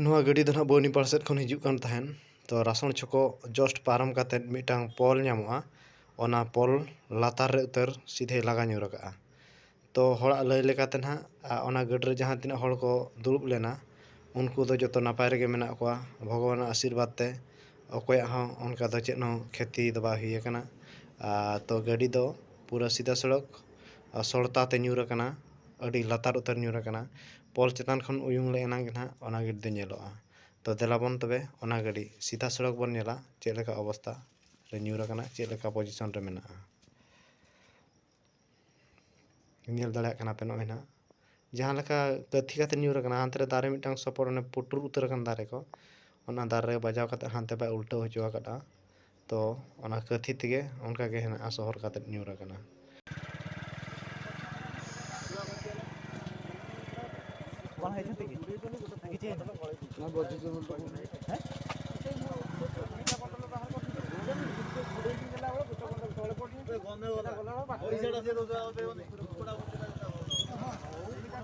ᱱᱚᱣᱟ ᱜᱟᱹᱰᱤ ᱫᱚ ᱱᱟᱜ ᱵᱚᱱᱤᱯᱟᱲ ᱥᱮᱫ ᱠᱷᱚᱱ ᱦᱤᱡᱩᱜ ᱠᱟᱱ ᱛᱟᱦᱮᱱ ᱛᱚ ᱨᱟᱥᱚᱲ ᱪᱷᱚᱠᱚ ᱡᱚᱥᱴ ᱯᱟᱨᱚᱢ ᱠᱟᱛᱮ ᱢᱤᱫᱴᱟᱝ ᱯᱳᱞ ᱧᱟᱢᱚᱜᱼᱟ ᱚᱱᱟ ᱯᱳᱞ ᱞᱟᱛᱟᱨ ᱨᱮ ᱩᱛᱟᱹᱨ ᱥᱤᱫᱷᱟᱹᱭ ᱞᱟᱜᱟ ᱧᱤᱨ ᱠᱟᱜᱼᱟ ᱛᱚ ᱦᱚᱲᱟᱜ ᱞᱟᱹᱭ ᱞᱮᱠᱟᱛᱮ ᱱᱟᱜ ᱚᱱᱟ ᱜᱟᱹᱰᱤ ᱨᱮ ᱡᱟᱦᱟᱸ ᱛᱤᱱᱟᱹᱜ ᱦᱚᱲ ᱠᱚ ᱫᱩᱲᱩᱵ ᱞᱮᱱᱟ ᱩᱱᱠᱩ ᱫᱚ ᱡᱚᱛᱚ ᱱᱟᱯᱟᱭ ᱨᱮᱜᱮ ᱢᱮᱱᱟᱜ ᱠᱚᱣᱟ ᱵᱷᱚᱜᱚᱵᱟᱱᱟᱜ ᱟᱥᱤᱨᱵᱟᱫᱽ ᱛᱮ ᱚᱠᱚᱭᱟᱜ ᱦᱚᱸ ᱚᱱᱠᱟ ᱫᱚ ᱪᱮᱫ ᱦᱚᱸ ᱠᱷᱮᱛᱤ ᱫᱚ ᱵᱟᱭ ᱦᱩᱭ ᱠᱟᱱᱟ ᱟᱨ ᱛᱚ ᱜᱟᱹᱰᱤ ᱫᱚ ᱯᱩᱨᱟᱹ ᱥᱤᱫᱷᱟᱹ ᱥᱚᱲᱚᱠ ᱥᱚᱲᱛᱟ ᱛᱮ ᱧᱩᱨ ᱠᱟᱱᱟ ᱟᱹᱰᱤ ᱞᱟᱛᱟᱨ ᱩᱛᱟᱹᱨ ᱧᱩᱨ ᱟᱠᱟᱱᱟ ᱯᱳᱞ ᱪᱮᱛᱟᱱ ᱠᱷᱚᱱ ᱩᱭᱩᱝ ᱞᱮ ᱮᱱᱟᱝ ᱜᱮ ᱱᱟᱦᱟᱜ ᱚᱱᱟ ᱜᱟᱹᱰᱤ ᱫᱚ ᱧᱮᱞᱚᱜᱼᱟ ᱛᱚ ᱫᱮᱞᱟ ᱵᱚᱱ ᱛᱚᱵᱮ ᱚᱱᱟ ᱜᱟᱹᱰᱤ ᱥᱤᱫᱷᱟ ᱥᱚᱲᱚᱠ ᱵᱚᱱ ᱧᱮᱞᱟ ᱪᱮᱫ ᱞᱮᱠᱟ ᱚᱵᱚᱥᱛᱟ ᱨᱮ ᱧᱩᱨ ᱟᱠᱟᱱᱟ ᱪᱮᱫ ᱞᱮᱠᱟ ᱯᱚᱡᱤᱥᱚᱱ ᱨᱮ ᱢᱮᱱᱟᱜᱼᱟ ᱧᱮᱞ ᱫᱟᱲᱮᱭᱟᱜ ᱠᱟᱱᱟ ᱯᱮ ᱱᱚᱜᱼᱚᱭ ᱱᱟᱦᱟᱜ ᱡᱟᱦᱟᱸ ᱞᱮᱠᱟ ᱛᱟᱹᱛᱷᱤ ᱠᱟᱛᱮ ᱧᱩᱨ ᱟᱠᱟᱱᱟ ᱦᱟᱱᱛᱮ ᱨᱮ ᱫᱟᱨᱮ ᱢᱤᱫᱴᱟᱝ ᱥᱚᱯᱚᱨ ᱚᱱᱮ ᱯᱩᱴᱩᱨ ᱩᱛᱟᱹᱨ ᱟᱠᱟᱱ ᱫᱟᱨᱮ ᱠᱚ ᱚᱱᱟ ᱫᱟᱨᱮ ᱨᱮ ᱵᱟᱡᱟᱣ ᱠᱟᱛᱮ ᱦᱟᱱᱛᱮ ᱵᱟᱭ ᱩᱞᱴᱟᱹᱣ ᱦᱚᱪᱚ ᱟᱠᱟᱫᱼᱟ ᱛᱚ ᱚᱱᱟ ᱠᱟᱹᱛᱷᱤ ᱛᱮᱜᱮ ᱚᱱᱠᱟ ᱜᱮ ᱦᱮᱱᱟᱜᱼᱟ ᱥᱚᱦᱚᱨ ᱠᱟᱛᱮ ᱧᱩᱨ ᱟᱠᱟᱱᱟ᱾